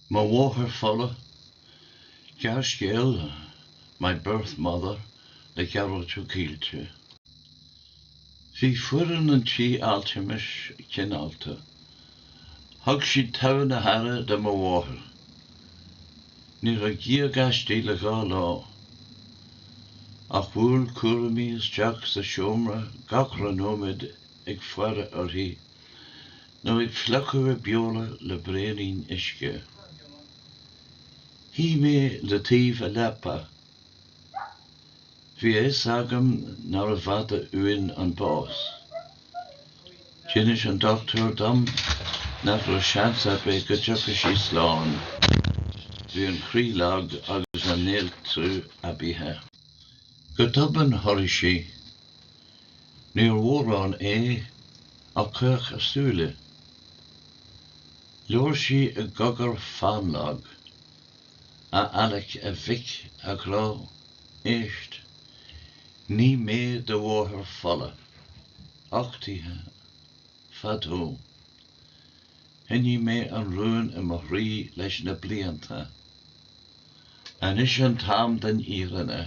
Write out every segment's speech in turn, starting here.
Mo Mháthair Fola, Gearrscéal, My Birth Mother le Gearóid Ó Caoilte. Bhí foireann an tí altramais cineálta. Thug siad togha na haire do mo mháthair. Ní raibh gíog aisti le dhá lá. Ach bhuail cúraimí isteach sa seomra gach re nóiméad ag faire uirthi Nó ag fliuchadh a beola le braonín uisce. Shuigh mé le taobh a leapa. Bhí a fhios agam nárbh fhada uainn an bás. D'inis an dochtúir dom nach raibh seans ar bith go dtiocfadh sí slán. Bhí an croí lag agus an néaltrú aibithe. Go tobann chorraigh sí. Níor mhórán é ach chaoch a súile. Labhair sí i gcogar fannlag. A Alec a mhic a ghrá, éist. Ní mé do mháthair fola. Uchtaithe. Fadó. Choinnigh mé an rún i mo chroí leis na blianta. Anois an t-am don fhírinne.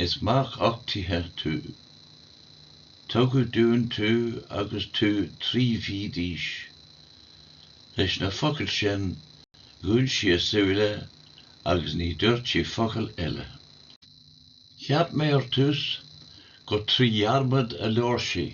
Is mac uchtaithe tú. Tugadh dúinn tú agus tú trí mhí d'aois. Leis na focail sin dhún sí a súile agus ní dúirt sí focal eile. Cheap mé ar tús gur trí dhearmad a labhair sí.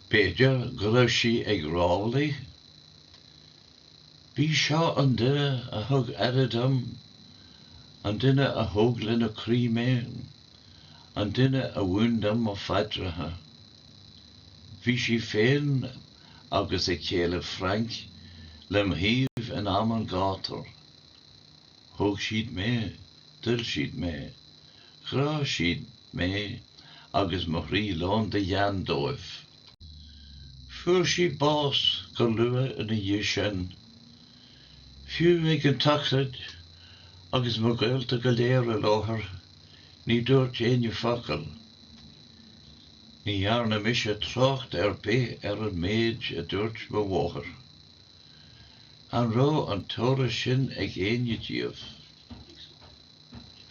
B'fhéidir go raibh sí ag rámhaillí? B'í seo an duine a thug aire dom, an duine a thóg lena croí mé, an duine a mhúin dom mo phaidreacha. Bhí sí féin agus a céile Frank lem thaobh in am an ghátair. Thóg siad mé, d'oil siad mé, ghráigh siad mé agus mo chroí lán de ghean dóibh. Fuair sí bás go luath ina dhiaidh sin. Fiú ag an tsochraid agus mo ghaolta go léir i láthair ní dúirt éinne focal. Ní dhearna mise trácht ar bith ar an méid a dúirt mo mháthair. An raibh an t-eolas sin ag éinne díobh?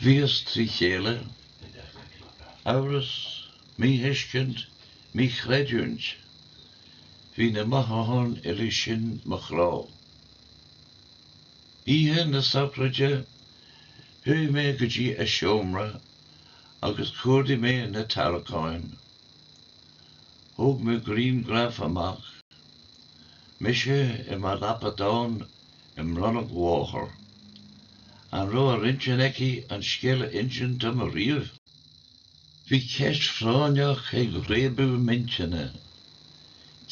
Bhíos trí chéile. Amhras, míthuiscint, míchreidiúint. Bhí na mothúcháin uilig sin do mo chrá. Oíche na sochraide chuaigh mé go dtí a seomra agus chuardaigh mé na tarracáin. Thóg mé griangraf amach. Mise i mo lapadán i mbroinn mo mháthar. An raibh ar intinn aici an scéal a insint dom ariamh? Bhí ceist phráinneach ag réabadh m'intinne.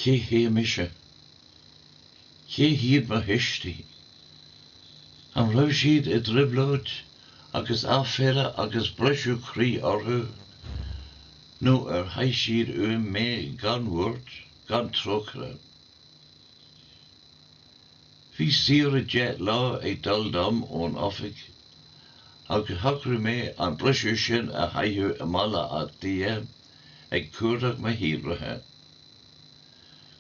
Cé hé mise? Cé hiad mo thuistí? An raibh siad i dtrioblóid agus aiféala agus briseadh croí orthu nó ar shaigh siad uaim mé gan bhuairt? gan trócaire. Bhí saoire deich lá ag dul dom ón oifig agus shocraigh mé an briseadh sin a chaitheamh i mBaile Átha Cliath ag cuardach mo shíolraithe.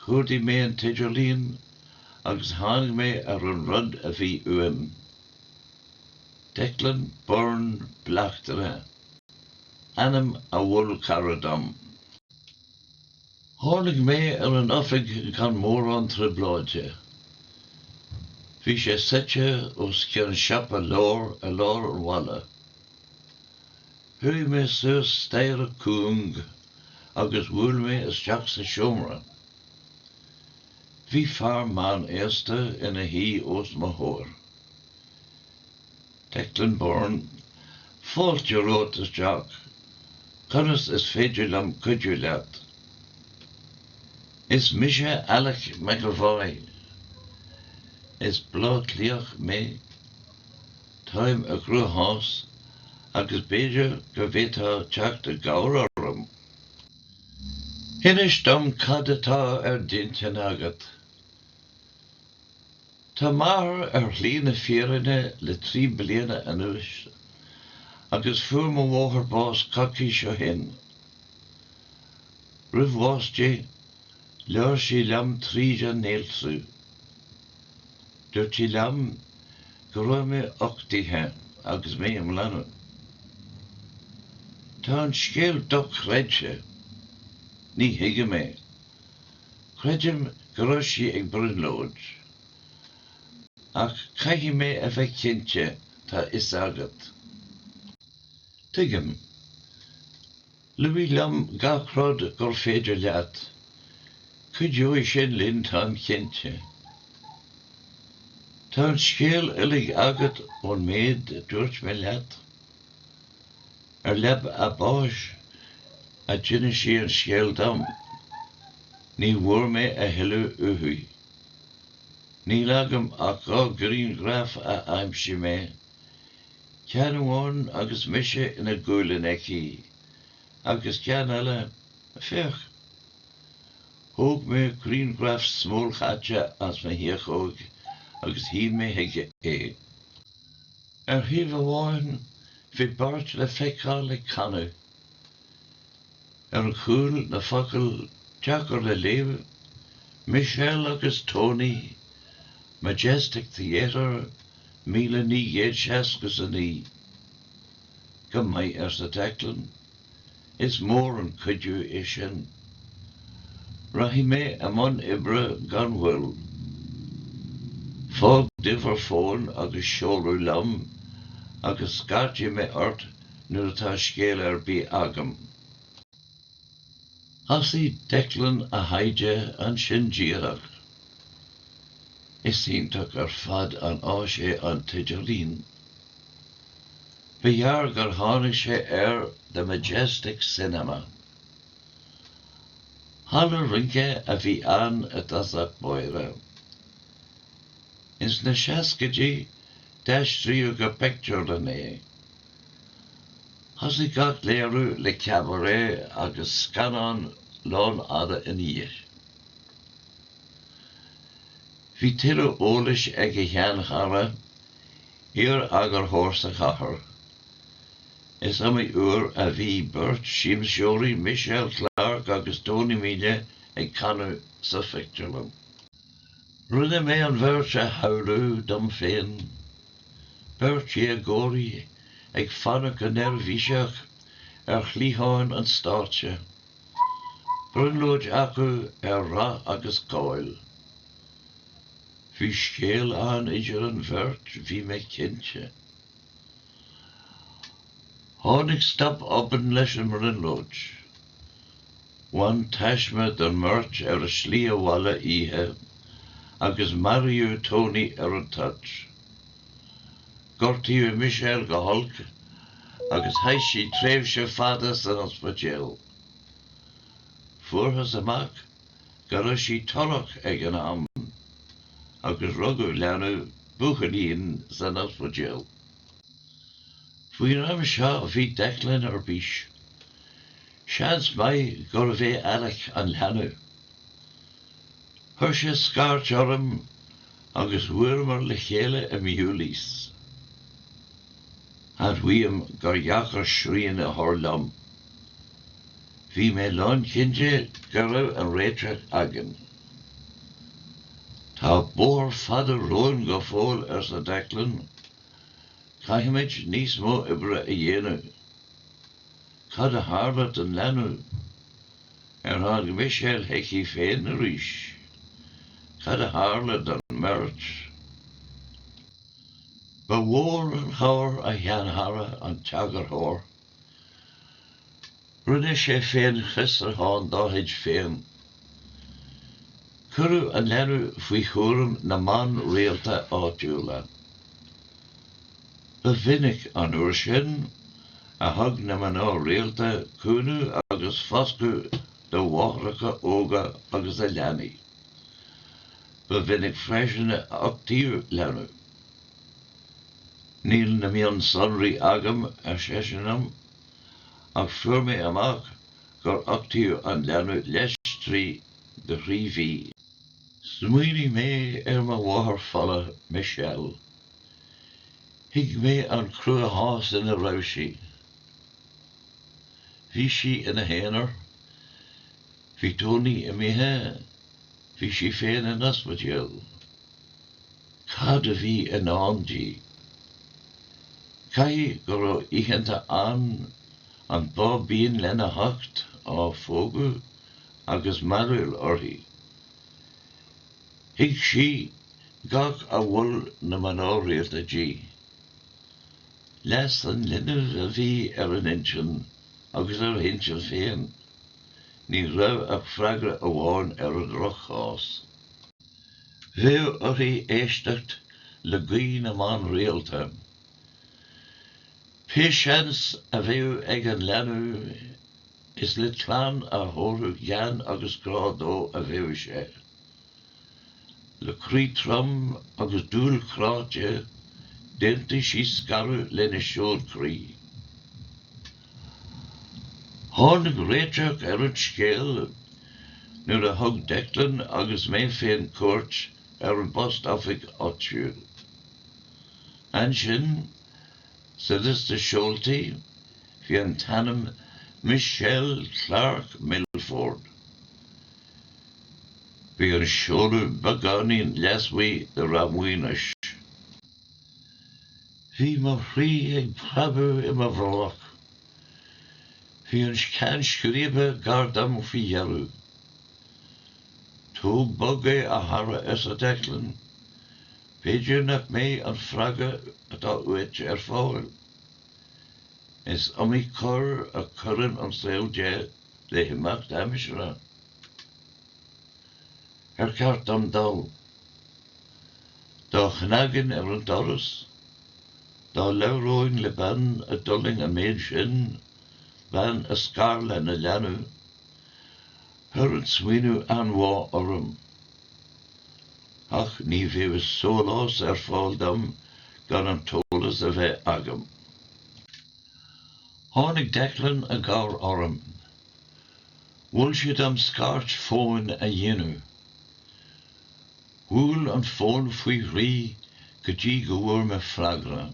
Chuardaigh mé an t-idirlíon agus tháinig mé ar an rud a bhí uaim. Declan Byrne Bleachtaire. Ainm a mhol cara dom. Tháinig mé ar an oifig gan mórán trioblóide. Bhí sé suite os cionn siopa leabhar i lár an bhaile. Chuaigh mé suas staighre cúng agus bhuail mé isteach sa seomra. Bhí fear meán aosta ina shuí os mo chomhair. Declan Byrne, Fáilte romhat isteach. Conas is féidir liom cuidiú leat? Is mise Alec McEvoy. Is Bleá Cliathach mé. Táim i gcruachás agus b'fhéidir go bhféadfá teacht i gcabhair orm. Inis dom cad atá ar d'intinn agat. Tá m'athair ar shlí na fírinne le trí bliana anuas agus fuair mo mháthair bás coicís ó shin. Roimh bhás di, labhair sí liom tríd an néaltrú. Dúirt sí liom go raibh mé uchtaithe agus mé i mo leanbh. Tá an scéal dochreidte. Ní thuigim é. Creidim go raibh sí ag brionglóid. Ach caithfidh mé a bheith cinnte tá 'fhios agat. Tuigim. Luaigh liom gach rud gur féidir leat. Cuideoidh sin linn táim cinnte. Tá an scéal uilig agat ón méid a dúirt mé leat? Ar leaba a báis a d'inis sí an scéal dom. Ní bhfuair mé a thuilleadh uaithi. Níl agam ach dhá ghrianghraf a aimsigh mé, ceann amháin agus mise i mo bhaclainn aici agus ceann eile, féach! Thóg mé grianghraf smólchaite as mo thiachóig agus shín chuige é. Ar thaobh amháin bhí beirt le feiceáil i gcanadh. Ar an chúl na focail deacair le léamh, Michelle agus Tony, Majestic Theatre, míle naoi gcéad seasca 's a naoi. Go maith arsa Declan. Is mór an cuidiú é sin. Rachaidh mé i mbun oibre gan mhoill. Fág d'uimhir fóin agus seoladh liom agus scairtfidh mé ort nuair atá scéal ar bith agam. Thosaigh Declan a thaighde ansin díreach. Is iontach ar fad an áis é an t-idirlíon. Ba ghearr gur tháinig sé ar The Majestic Cinema, halla rince a bhí ann i dtosach báire. Is na seascaidí d'aistríodh go pictiúrlann é. Thosaigh gach léiriú le cabaret agus scannán lánfhada ina dhiaidh. Bhí tuilleadh eolais ag a sheanchara. iar-eagarthóir sa chathair. Is iomaí uair a bhí beirt siamseoirí, Michelle Clarke agus Tony Mine, ag canadh sa phictiúrlann. Rinne mé an bheirt a shamhlú dom féin, beirt dhéagóirí ag fanacht go neirbhíseach ar chliatháin an stáitse, brionglóid acu ar rath agus cáil. Bhí scéal ann idir an bheirt bhí mé cinnte. Tháinig stop obann leis an mbrionglóid. Bhain taisme don mbeirt ar a slí abhaile oíche agus maraíodh Tony ar an toirt. Gortaíodh Michelle go holc agus chaith sí tréimhse fada san ospidéal. Fuarthas amach go raibh sí torrach ag an am agus rugadh leanbh, buachaillín, san ospidéal. Faoin am seo bhí Declan ar bís. Seans maith gurbh é Alec an leanbh. Chuir sé scairt orm agus bhuaileamar le chéile i Bewley's. Admhaím gur dheacair srian a chur liom. Bhí mé lán-chinnte go raibh an réiteach againn. Tá bóthar fada romhainn go fóill arsa Declan. Caithfimid níos mó oibre a dhéanamh. Cad a tharla don leanbh? Ar tháinig Michelle chuici féin arís? Cad a tharla don mbeirt? Ba mhór an chabhair a sheanchara an t-eagarthóir. Rinne sé féin fiosruchán dá chuid féin. Cuireadh an leanbh faoi chúram na mban rialta áitiúla. Ba mhinic an uair sin a thug na mná rialta cúnamh agus foscadh do mháithreacha óga agus a leanaí. Ba mhinic freisin a d'uchtaítí leanbh. Níl na mionsonraí agam, ar seisean liom, ach fuair mé amach gur uchtaíodh an leanbh leis trí go thrí mhí. Smaoinigh mé ar mo mháthair fola, Michelle. Thuig mé an cruachás ina raibh sí. Bhí sí ina haonar. Bhí Tony imithe. Bhí sí féin in ospidéal. cad a bhí i ndán di. Caithfidh go raibh oícheanta ann, an báibín lena hucht á phógadh agus mearbhall uirthi. Thuig sí gach a mhol na mná rialta di. Leas an linbh a bhí ar a n-intinn agus ar a hintinn féin. Ní raibh ach freagra amháin ar an ndroch-chás. bheadh uirthi éisteacht le guí na mban rialta. Pé seans a bheadh ag an leanbh is le clann a thabharfadh gean agus grá dó a bheadh sé. Le croí trom agus dúil chráite dhéanfadh sí scaradh lena seoid croí. Tháinig réiteach ar an scéal nuair a thug Declan agus mé féin cuairt ar an bpost-oifig áitiúil. Ansin, sa liosta seoltaí, bhí an t-ainm Michelle Clarke Milford. Bhí an seoladh beagáinín leasmuigh de Rath Maonais. Bhí mo chroí ag preabadh i mo bhrollach. Bhí an ceann scríbe gar dom faoi dheireadh. Tóg bog é, a chara, arsa Declan. B'fhéidir nach mbeidh an freagra atá uait ar fáil. Is iomaí cor a chuireann an saol de le himeacht aimsire. Ar cheart dom dul? Dá chnagainn ar an doras? Dá labhróinn le bean a d'fhulaing an méid sin, bean a scar lena leanbh? Chuir an smaoineamh anbhá orm. Ach ní bheadh sólás ar fáil dom gan an t-eolas a bheith agam. Tháinig Declan i gcabhair orm. Mhol sé dom scairt fóin a dhéanamh. Bhuail an fón faoi thrí go dtí go bhfuair mé freagra.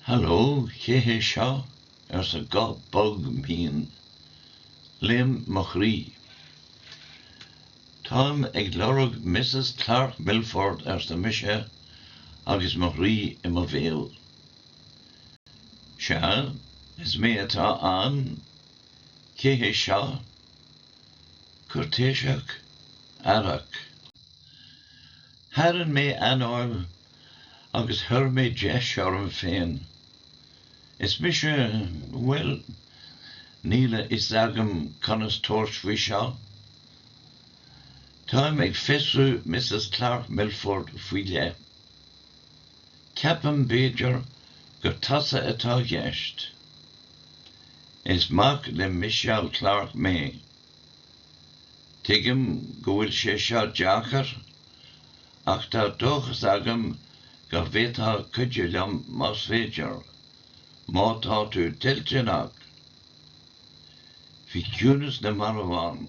Hallo, cé hé seo? arsa guth bog mín. Léim mo chroí. Táim ag lorg Misses Clarke Milford arsa mise agus mo chroí i mo bhéal. Sea, is mé atá ann. Cé hé seo? Cuirtéiseach, aireach. Tharraing mé anáil agus chuir mé deis orm féin. Is mise, bhuel, níl a fhios agam conas tabhairt faoi seo. Táim ag fiosrú Misses Clarke Milford faoi leith. Ceapaim b'fhéidir gur tusa atá i gceist. Is mac le Michelle Clarke mé. Tuigim go bhfuil sé seo deacair ach tá dóchas agam go bhféadfá cuidiú liom más féidir, má tá tú toilteanach. Bhí ciúnas na marbh ann.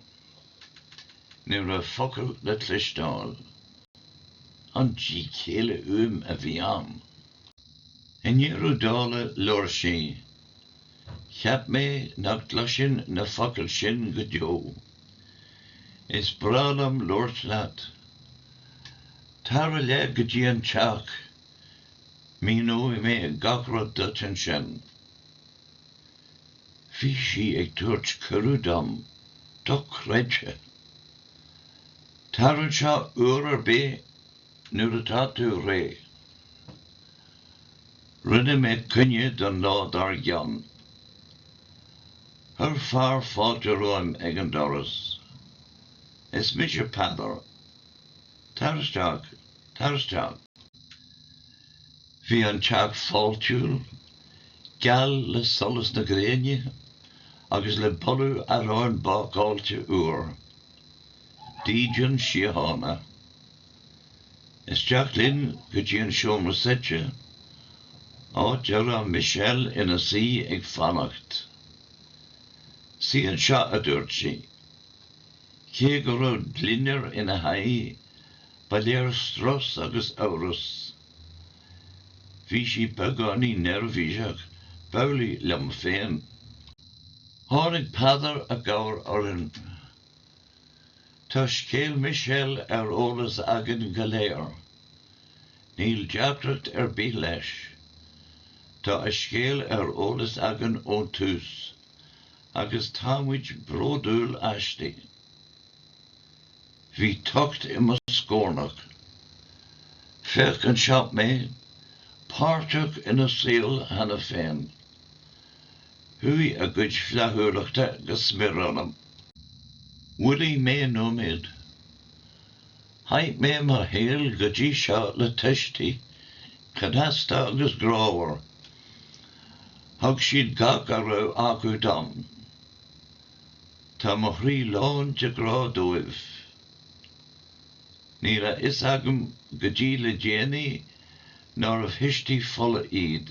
Ní raibh focal le cloisteáil. An díchéille uaim a bhí ann. I ndeireadh dála labhair sí. Cheap mé nach gcloisfinn na focail sin go deo. Is breá liom labhairt leat. Tar i leith go dtí an teach. Míneoidh mé gach rud duit ansin. Bhí sí ag tabhairt cuireadh dom, dochreidthe. Tar anseo uair ar bith nuair atá tú réidh. Rinne mé coinne don lá dár gcionn. Chuir fear fáilte romhaim ag an doras. Is mise Peadar. Tar isteach, tar isteach. Bhí an teach fáiltiúil, geal le solas na gréine agus le boladh aráin bácáilte úr. Dídean Síochána. Isteach linn go dtí an seomra suite, áit a raibh Michelle ina suí ag fanacht. Suí anseo, a dúirt sí. Cé go raibh gliondar ina haghaidh, ba léir strus agus amhras. Bhí sí beagáinín neirbhíseach, b'amhlaidh liom féin. Tháinig Peadar i gcabhair orainn. Tá scéal Michelle ar eolas againn go léir. Níl deacracht ar bith leis. Tá a scéal ar eolas againn ón tús, agus táimid bródúil aisti. Bhí tocht i mo scórnach. Féach anseo mé, páirteach ina saol cheana féin. Chuaigh a gcuid flaithiúlachta go smior ionam. Mhoilligh mé nóiméad. Chaith mé mo shaol go dtí seo le tuistí, cneasta agus grámhar. Thug siad gach a raibh acu dom. Tá mo chroí lán de grá dóibh. Ní raibh a fhios agam go dtí le déanaí nárbh thuistí fola iad.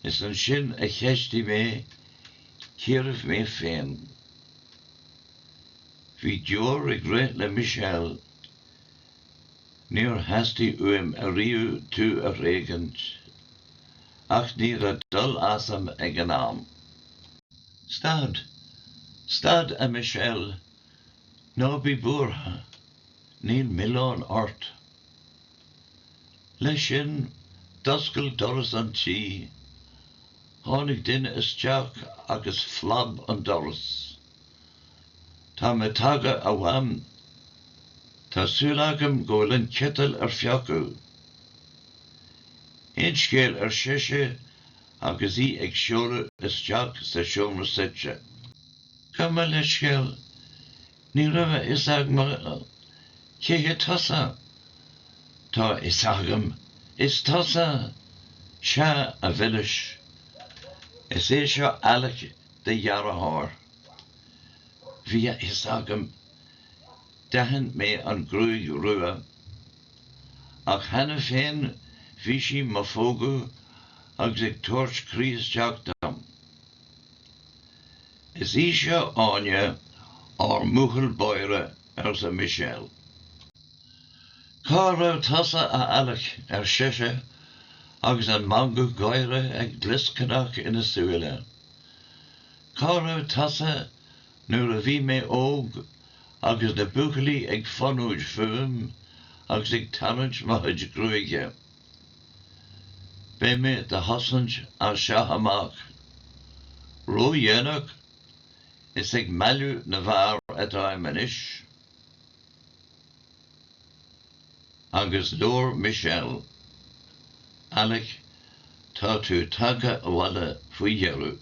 Is ansin a cheistigh mé cérbh mé féin. Bhí deoir ag rith le Michelle. Níor theastaigh uaim ariamh tú a thréigint. Ach ní raibh dul asam ag an am. Stad! Stad, a Michelle! Ná bí buartha, níl milleán ort. Leis sin, d'oscail doras an tí. Tháinig duine isteach agus phlab an doras. Tá mé tagtha, a Mham. Tá súil agam go bhfuil an citeal ar fiuchadh. Aon scéal ar sise, agus í ag seoladh isteach sa seomra suite. Gabh mo leithscéal, ní raibh a fhios agam cé hé tusa. Tá a fhios agam, is tusa! Sea, a mhilis, is é seo Alec, do dheartháir. Bhí a fhios agam. D'aithin mé an ghruaig rua. Ach cheana féin bhí sí do mo phógadh agus ag tabhairt croí isteach dom. Is í seo Áine, ár mbuachaill báire, arsa Michelle. Cá raibh tusa, a Alec, ar sise agus an meangadh gáire ag glioscarnach ina súile. Cá raibh tusa nuair a bhí mé óg, agus na buachaillí ag fonóid fúm agus ag tarraint mo chuid gruaige? Beidh mé do do chosaint as seo amach. Ró-dhéanach? Is ag mealladh na bhfear atáim anois. Agus labhair Michelle. Alec, tá tú tagtha abhaile faoi dheireadh.